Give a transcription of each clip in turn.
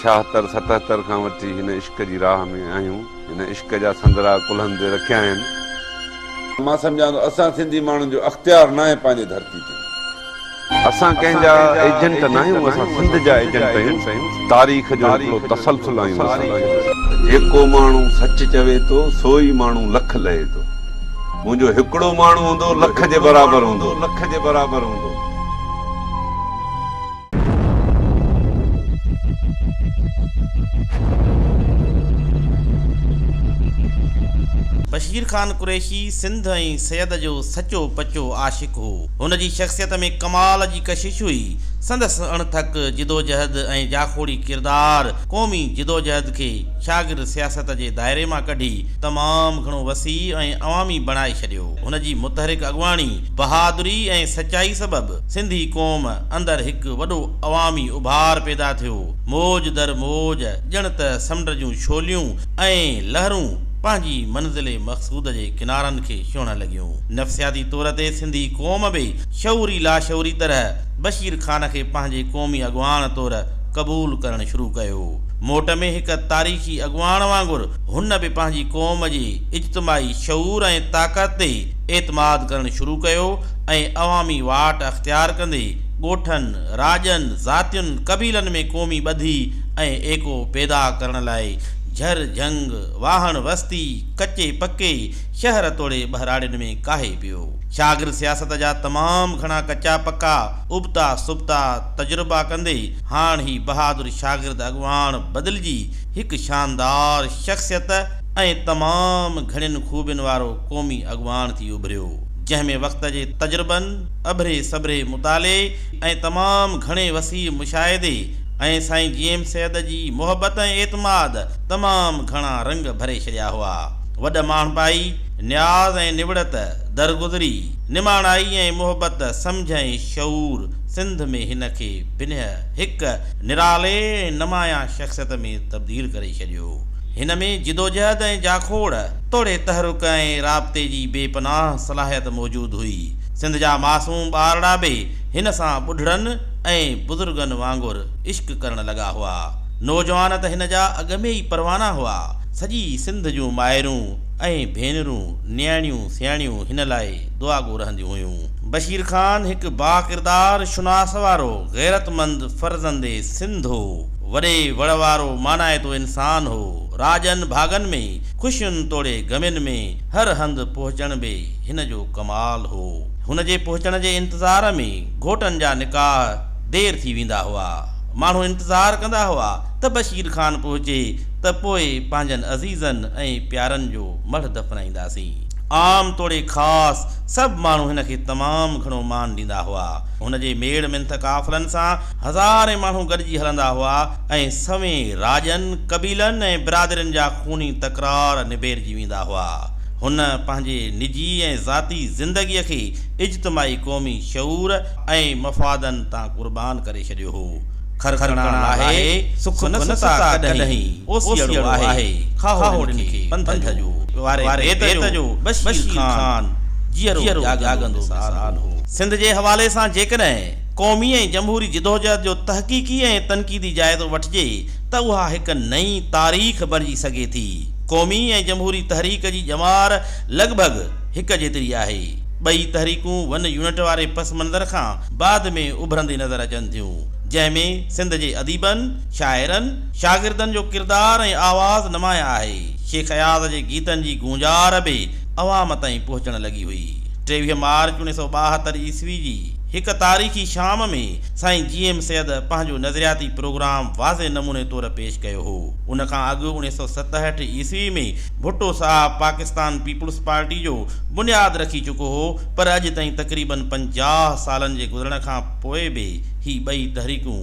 ڇاهتر ستهتر کان وٺي هن عشق جي راهه ۾ آهيون هن عشق جا سندرا ڪلهن تي رکيا آهن. مان سمجهان ٿو اسان سنڌي ماڻهن جو اختيار ناهي پنهنجي ڌرتي تي. اسان ڪنهن جا ايجنٽ ناهيون اسان سنڌ جا ايجنٽ آهيون تاريخ جو هڪڙو تسلسل آهيون اسان. جيڪو ماڻهو سچ چوي ٿو سو ئي ماڻهو لک لهي ٿو. منهنجو هڪڙو ماڻهو هوندو لک جي برابر هوندو لک جي برابر هوندو. بشير خان قريشي سنڌ ۽ سيد جو سچو پچو عاشق هو. هن جي شخصيت ۾ ڪمال جي ڪشش هئي. سندس اڻٿڪ جدوجهد ۽ جاکوڙي ڪردار قومي جدوجهد کي شاگرد سياست جي دائري مان ڪڍي تمام گهڻو وسيع ۽ عوامي بڻائي ڇڏيو. هن جي متحرڪ اڳواڻي، بهادري ۽ سچائي سبب سنڌي قوم اندر هڪ وڏو عوامي اڀار پيدا ٿيو. موج در موج ڄڻ ته سمنڊ جون ڇوليون ۽ لهرون پنهنجي منزل مقصود جي ڪنارن کي ڇهڻ لڳيون. نفسياتي طور تي سنڌي قوم به شعوري لاشعوري طرح بشير خان کي پنهنجي قومي اڳواڻ طور قبول ڪرڻ شروع ڪيو. موٽ ۾ هڪ تاريخي اڳواڻ وانگر هن به پنهنجي قوم جي اجتماعي شعور ۽ طاقت تي اعتماد ڪرڻ شروع ڪيو ۽ عوامي واٽ اختيار ڪندي ڳوٺن، راڄن، ذاتين، قبيلن ۾ قومي ٻڌي ۽ ايڪو پيدا ڪرڻ لاء جھر جھنگ، واهڻ وستي، ڪچي پڪي، شهر توڙي ٻهراڙين ۾ ڪاهي پيو. شاگرد سياست جا تمام گھڻا ڪچا پڪا، ابتا سبتا تجربا ڪندي هاڻ هي بهادر شاگرد اڳواڻ بدلجي هڪ شاندار شخصيت ۽ تمام گهڻين خوبين وارو قومي اڳواڻ ٿي اڀريو، جنهن ۾ وقت جي تجربن، اڀري سڀري مطالعي ۽ تمام گهڻي وسيع مشاهدي ۽ سائين جي ايم سيد جي محبت ۽ اعتماد تمام گهڻا رنگ ڀري ڇڏيا هئا. وڏ ماڻهپائي، نياز ۽ نوڙت، درگذري، نماڻائي ۽ محبت، سمجهه ۽ شعور سنڌ ۾ هن کي بنهه، هڪ نرالي ۽ نمايان شخصيت ۾ تبديل ڪري ڇڏيو. هن ۾ جدوجهد ۽ جاکوڙ توڙي تحرڪ ۽ رابطي جي بي پناهه صلاحيت موجود هئي. سنڌ جا معصوم ٻارڙا به هن سان ٻڍڙن ۽ بزرگن وانگر عشق ڪرڻ لڳا هئا. نوجوان ته هن جا اڳ ۾ ئي پروانا هئا. سڄي سنڌ جون مائرون ۽ ڀينرون، نياڻيون سياڻيون هن لاء دعاگو رهنديون هيون. بشير خان هڪ باڪردار شناس وارو غيرتمند فرزند سنڌ هو. وڏي وڙ وارو مانائتو انسان هو. راڄن ڀاڳن ۾ خوشين توڙي غمين ۾ هر هنڌ پهچڻ به هن جو ڪمال هو. هن جي پهچڻ جي انتظار ۾ گهوٽن جا نڪاح دير ٿي ويندا هئا. ماڻهو انتظار ڪندا هئا ته بشير خان پهچي ته پوء پنهنجن عزيزن ۽ پيارن جو مڙهه دفنائينداسين. عام توڙي خاص سڀ ماڻهو هن کي تمام گهڻو مان ڏيندا هئا. هن جي ميڙ منٿ قافلن سان هزارين ماڻهو گڏجي هلندا هئا ۽ سوين راڄن، قبيلن ۽ برادرين جا خوني تڪرار نبيرجي ويندا هئا. هن پنهنجي نجي ۽ ذاتي زندگيء کي اجتماعي قومي شعور ۽ مفادن تان قربان ڪري ڇڏيو هو. کرکڻا لاهي سک نه ستا ڪڏهين اوسيئڙو آهي کاهوڙن کي پنڌ جو واري بيت جو بشير خان جيئرو جاڳندو مثال هو. سنڌ جي حوالي سان جيڪڏهن قومي ۽ جمهوري جدوجهد جو تحقيقي ۽ تنقيدي جائزو وٺجي ته اها هڪ نئين تاريخ بڻجي سگهي ٿي. قومي ۽ جمهوري تحريڪ جي ڄمار لڳ ڀڳ هڪ جيتري آهي. ٻئي تحريڪون ون يونٽ واري پس منظر کان بعد ۾ اڀرندي نظر اچن ٿيون، جنهن ۾ سنڌ جي اديبن، شاعرن، شاگردن جو ڪردار ۽ آواز نمايان آهي. شيخ اياز جي گيتن جي گونجار به عوام تائين پهچڻ لڳي هئي. ٽيويهه مارچ اڻويهه سؤ ٻاهتر عيسوي جي هڪ تاريخي شام ۾ سائين جي ايم سيد پنهنجو نظرياتي پروگرام واضح نموني طور پيش ڪيو هو. ان کان اڳ اڻويهه سؤ ستهٺ عيسوي ۾ ڀٽو صاحب پاڪستان پيپلز پارٽي جو بنياد رکي چڪو هو، پر اڄ تائين تقريباً پنجاهه سالن جي گذرڻ کان پوء به هي ٻئي تحريڪون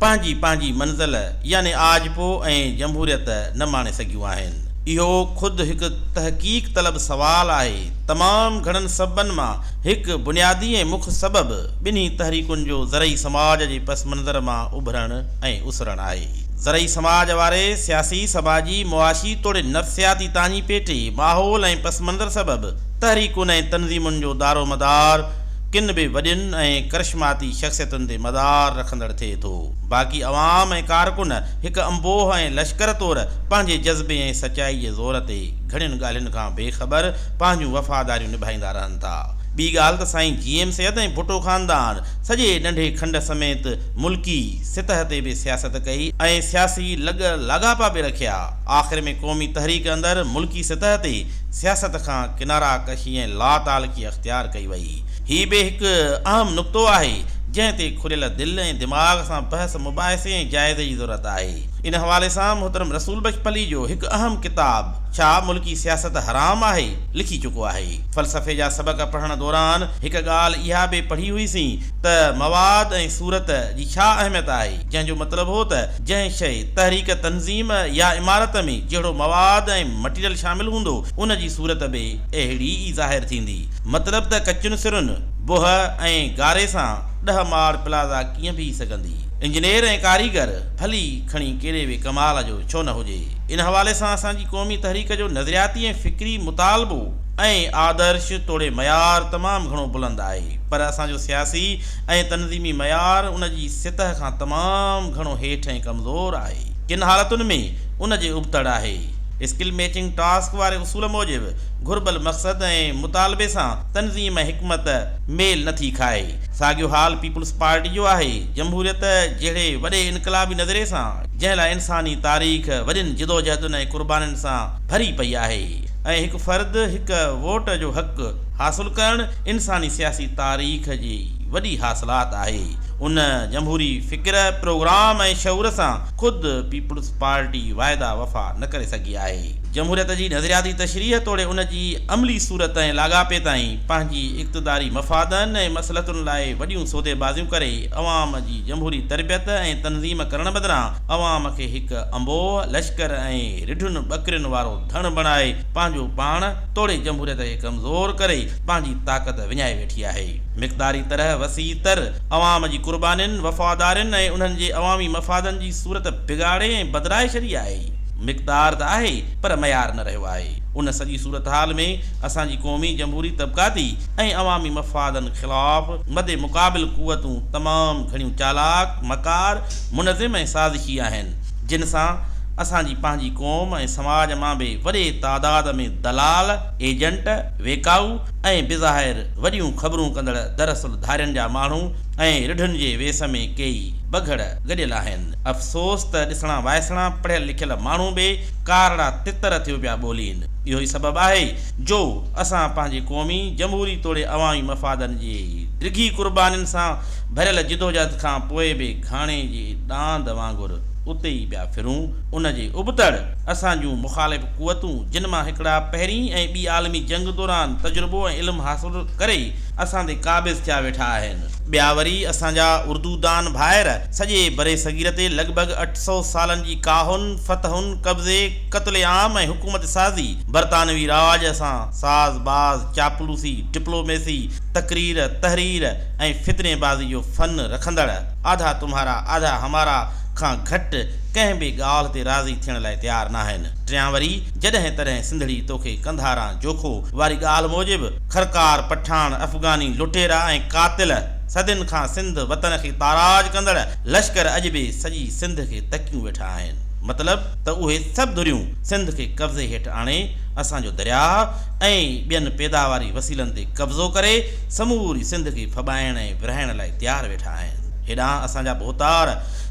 پنهنجي پنهنجي منزل يعني آجپو ۽ جمهوريت نه ماڻي سگهيون آهن. اهو خود هڪ تحقيق طلب سوال آهي. تمام گهڻن سببن مان هڪ بنيادي ۽ مک سبب ٻنهي تحريڪن جو زرعي سماج جي پس منظر مان اڀرڻ ۽ اسرڻ آهي. زرعي سماج واري سياسي، سماجي، معاشي توڙي نفسياتي تاڃي پيٽي، ماحول ۽ پس منظر سبب، تحريڪن ۽ تنظيمن جو دارومدار ڪن به وڏين ۽ ڪرشماتي شخصيتن تي مدار رکندڙ ٿئي ٿو. باقي عوام ۽ ڪارڪن هڪ انبوهه ۽ لشڪر طور پنهنجي جذبي ۽ سچائي جي زور تي گهڻين ڳالهين کان بي خبر پنهنجون وفاداريون نڀائيندا رهن ٿا. ٻي ڳالهه ته سائين جي ايم سيد ۽ ڀٽو خاندان سڄي ننڍي کنڊ سميت ملڪي سطح تي به سياست ڪئي ۽ سياسي لڳ لاڳاپا به رکيا. آخر ۾ قومي تحريڪ اندر ملڪي سطح تي سياست کان ڪنارا ڪشي ۽ لا تعلقي اختيار ڪئي وئي. هي به هڪ اهم نقطو آهي، جنهن تي کليل دل ۽ دماغ سان بحث مباحثي ۽ جائزي جي ضرورت آهي. ان حوالي سان محترم رسول بخش پليجو هڪ اهم ڪتاب ڇا ملڪي سياست حرام آهي؟ لکي چڪو آهي. فلسفي جا سبق پڙهڻ دوران هڪ ڳالهه اها به پڙهي هئي سين ته مواد ۽ صورت جي ڇا اهميت آهي، جنهن جو مطلب هو ته جنهن شيء، تحريڪ، تنظيم يا عمارت ۾ جهڙو مواد ۽ مٽيريل شامل هوندو، ان جي صورت به اهڙي ئي ظاهر ٿيندي. مطلب ته ڪچين سرن، بوهه ۽ گاري سان ڏهه ماڙ پلازا ڪيئن بيهي سگهندي؟ انجنيئر ۽ ڪاريگر ڀلي کڻي ڪهڙي به ڪمال جو ڇو نه هجي، ان حوالي سان اسان جي قومي تحريڪ جو نظرياتي ۽ فڪري مطالبو ۽ آدرش توڙي معيار تمام گهڻو بلند آهي، پر اسان جو سياسي ۽ تنظيمي معيار ان جي سطح کان تمام گهڻو هيٺ ۽ ڪمزور آهي. ڪن حالتن ۾ ان جي ابتڙ آهي. اسڪل ميچنگ ٽاسڪ واري اصول موجب گهربل مقصد ۽ مطالبي سان تنظيم ۽ حڪمت ميل نه ٿي کائي. ساڳيو حال پيپلز پارٽي جو آهي. جمهوريت جهڙي وڏي انقلابي نظرئي سان جنهن لاء انساني تاريخ وڏين جدوجهدن ۽ قربانين سان ڀري پئي آهي ۽ هڪ فرد هڪ ووٽ جو حق، حاصل ڪرڻ انساني سياسي تاريخ جي وڏي حاصلات آهي. ان جمهوري فڪر، پروگرام ۽ شعور سان خود پيپلز پارٽي واعدا وفا نه ڪري سگهي آهي. جمهوريت جي نظرياتي تشريح توڙي ان جي عملي صورت ۽ لاڳاپي تائين پنهنجي اقتداري مفادن ۽ مصلحتن لاء وڏيون سوديبازيون ڪري عوام جي جمهوري تربيت ۽ تنظيم ڪرڻ بدران عوام کي هڪ انبوهه لشڪر ۽ رڍن ٻڪرين وارو ڌڻ بڻائي پنهنجو پاڻ توڙي جمهوريت کي ڪمزور ڪري پنهنجي طاقت وڃائي ويٺي آهي. مقداري طرح وسيع تر عوام جي قربانين، وفادارين ۽ انهن جي عوامي مفادن جي صورت بگاڙي ۽ بدرائي ڇڏي آهي. مقدار ته آهي پر معيار نه رهيو آهي. ان سڄي صورتحال ۾ اسان جي قومي، جمهوري، طبقاتي ۽ عوامي مفادن خلاف مد مقابل قوتون تمام گهڻيون چالاڪ، مڪار، منظم ۽ سازشي آهن. جن سان اسان جي پنهنجي قوم ۽ سماج مان به وڏي تعداد ۾ دلال، ايجنٽ، ويڪائو ۽ بظاهر وڏيون خبرون ڪندڙ دراصل ڌارين جا ماڻهو ۽ رڍن جي ويس ۾ ڪيئي بگهڙ گڏيل آهن. افسوس ته ڏسڻا وائسڻا پڙهيل لکيل ماڻهو به ڪارڙا تتر ٿيو پيا ٻولين. اهو ئي سبب آهي جو اسان پنهنجي قومي، جمهوري توڙي عوامي مفادن جي ڊگهي قربانين سان ڀريل جدوجهد کان پوء به گهاڻي جي ڏاند وانگر اتي ئي پيا ڦرون، ان جي ابتڙ اسان جون مخالف قوتون جن مان هڪڙا پهرين ۽ ٻي عالمي جنگ دوران تجربو ۽ علم حاصل ڪري اسان تي قابض ٿيا ويٺا آهن، ٻيا وري اسان جا اردو دان ڀائر سڄي برصغير تي لڳ ڀڳ اٺ سؤ سالن جي ڪاهن، فتحن، قبضي، قتل عام ۽ حڪومت سازي، برطانوي رواج سان ساز باز، چاپلوسي، ڊپلوميسي، تقرير، تحرير، ۽ فتني بازي جو فن رکندڙ، آڌا تمهارا آڌا همارا کان گهٽ ڪنهن به ڳالهه تي راضي ٿيڻ لاء تيار ناهن. ٽيان وري جڏهن تڏهن سنڌڙي توکي قنڌاران جوکو واري ڳالهه موجب، خرڪار پٺاڻ، افغاني لٽيرا ۽ قاتل، صدين کان سنڌ وطن کي تاراج ڪندڙ لشڪر اڄ به سڄي سنڌ کي تڪيون ويٺا آهن. مطلب ته اهي سڀ ڌريون سنڌ کي قبضي هيٺ آڻي اسان جو درياهه ۽ ٻين پيداواري وسيلن تي قبضو ڪري سموري سنڌ کي ڦٻائڻ ۽ ورهائڻ لاء تيار ويٺا آهن. هيڏانهن اسان جا ڀوتار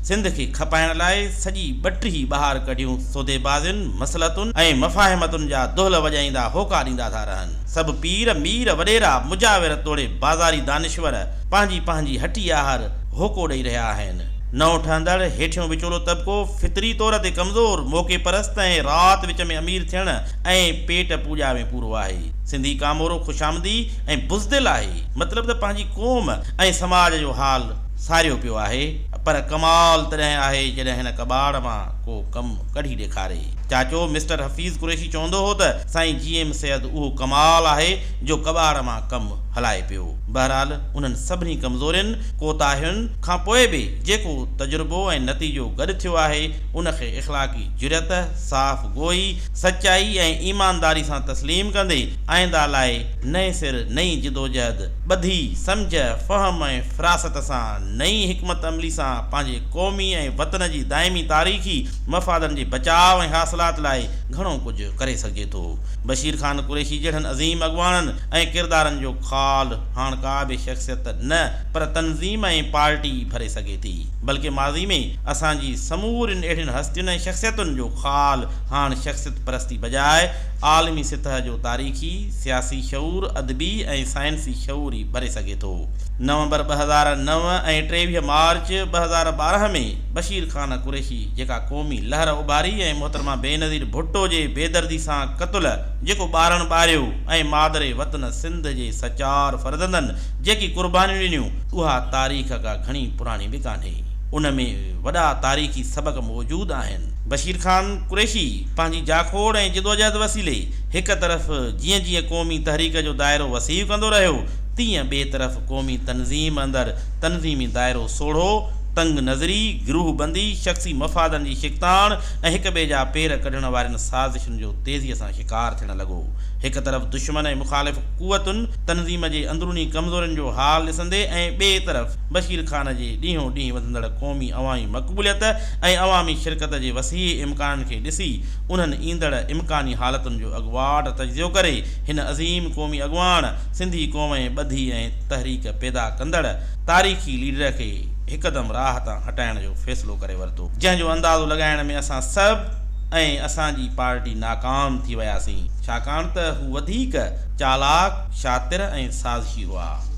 سنڌ کي کپائڻ لاء سڄي ٻٽهي ٻاهر ڪڍيون سوديبازين، مصلحتن ۽ مفاهمتن جا دهل وڄائيندا هوڪا ڏيندا ٿا رهن. سڀ پير، مير، وڏيرا، مجاور توڙي بازاري دانشور پنهنجي پنهنجي هٺي آهر هوڪو ڏئي رهيا آهن. نئون ٺهندڙ هيٺيون وچولو طبقو فطري طور تي ڪمزور، موقعي پرست ۽ رات وچ ۾ امير ٿيڻ ۽ پيٽ پوڄا ۾ پورو آهي. سنڌي ڪامورو خوشامدي ۽ بزدل آهي. مطلب ته پنهنجي قوم ۽ سماج جو حال ساريو پيو آهي. پر ڪمال تڏهن آهي جڏهن هن ڪٻاڙ مان ڪو ڪم ڪڍي ڏيکاري. چاچو مسٽر حفيظ قريشي چوندو هو ته سائين جي ايم سيد اهو ڪمال آهي جو ڪٻاڙ مان ڪم هلائي پيو. بهرحال انهن سڀني ڪمزورين، ڪوتاهين، کان پوء به جيڪو تجربو ۽ نتيجو گڏ ٿيو آهي ان کي اخلاقي جرئت، صاف گوئي، سچائي ۽ ايمانداري سان تسليم ڪندي آئينده لاء نئين سر نئين جدوجهد، ٻڌي، سمجهه، فهم ۽ فراست سان نئين حڪمت عملي سان پنهنجي قومي ۽ وطن جي دائمي تاريخي مفادن جي بچاء ۽ حاصلات لاء گهڻو ڪجهه ڪري سگهجي ٿو. بشير خان قريشي جهڙن عظيم اڳواڻن ۽ ڪردارن جو خال هاڻ ڪا به شخصيت نه پر تنظيم ۽ پارٽي ڀري سگهي ٿي. بلڪه ماضي ۾ اسان جي سمورين اهڙين هستين ۽ شخصيتن جو خال هاڻ شخصيت پرستي بجاء عالمي سطح جو تاريخي، سياسي شعور، ادبي ۽ سائنسي شعور ئي ڀري سگهي ٿو. نومبر ٻه هزار نو ۽ ٽيويهه مارچ ٻه هزار ٻارهن ۾ بشير خان قريشي جيڪا قومي لهر اڀاري ۽ محترمه بينظير ڀٽو جي بيدردي سان قتل جيڪو ٻارڻ ٻاريو ۽ مادر وطن سنڌ جي سچار فرزندن جيڪي قربانيون ڏنيون، اها تاريخ ڪا گهڻي پراڻي به ڪانهي. ان ۾ وڏا تاريخي سبق موجود آهن. بشير خان قريشي پنهنجي جاکوڙ ۽ جدوجهد وسيلي هڪ طرف جيئن جيئن قومي تحريڪ جو دائرو وسيع ڪندو رهيو، تيئن ٻئي طرف قومي تنظيم اندر تنظيمي دائرو سوڙهو، تنگ نظري، گروهه بندي، شخصي مفادن جي شڪتاڻ ۽ هڪ ٻئي جا پير ڪڍڻ وارين سازشن جو تيزيء سان شڪار ٿيڻ لڳو. هڪ طرف دشمن ۽ مخالف قوتن. تنظيم جي اندروني ڪمزورين جو حال ڏسندي ۽ ٻئي طرف بشير خان جي ڏينهون ڏينهن وڌندڙ قومي عوامي مقبوليت ۽ عوامي شرڪت جي وسيع امڪانن کي ڏسي انهن ايندڙ امڪاني حالتن جو اڳواٽ تجزيو ڪري هن عظيم قومي اڳواڻ، سنڌي قوم ۽ ٻڌي ۽ تحريڪ پيدا ڪندڙ تاريخي ليڊر کي هڪدم راهه تان هٽائڻ جو فيصلو ڪري ورتو. جنهن جو اندازو لڳائڻ ۾ اسان سڀ ۽ اسان جي پارٽي ناڪام ٿي وياسين. ڇاڪاڻ ته هو وڌيڪ چالاڪ، شاطر ۽ سازشي هئا.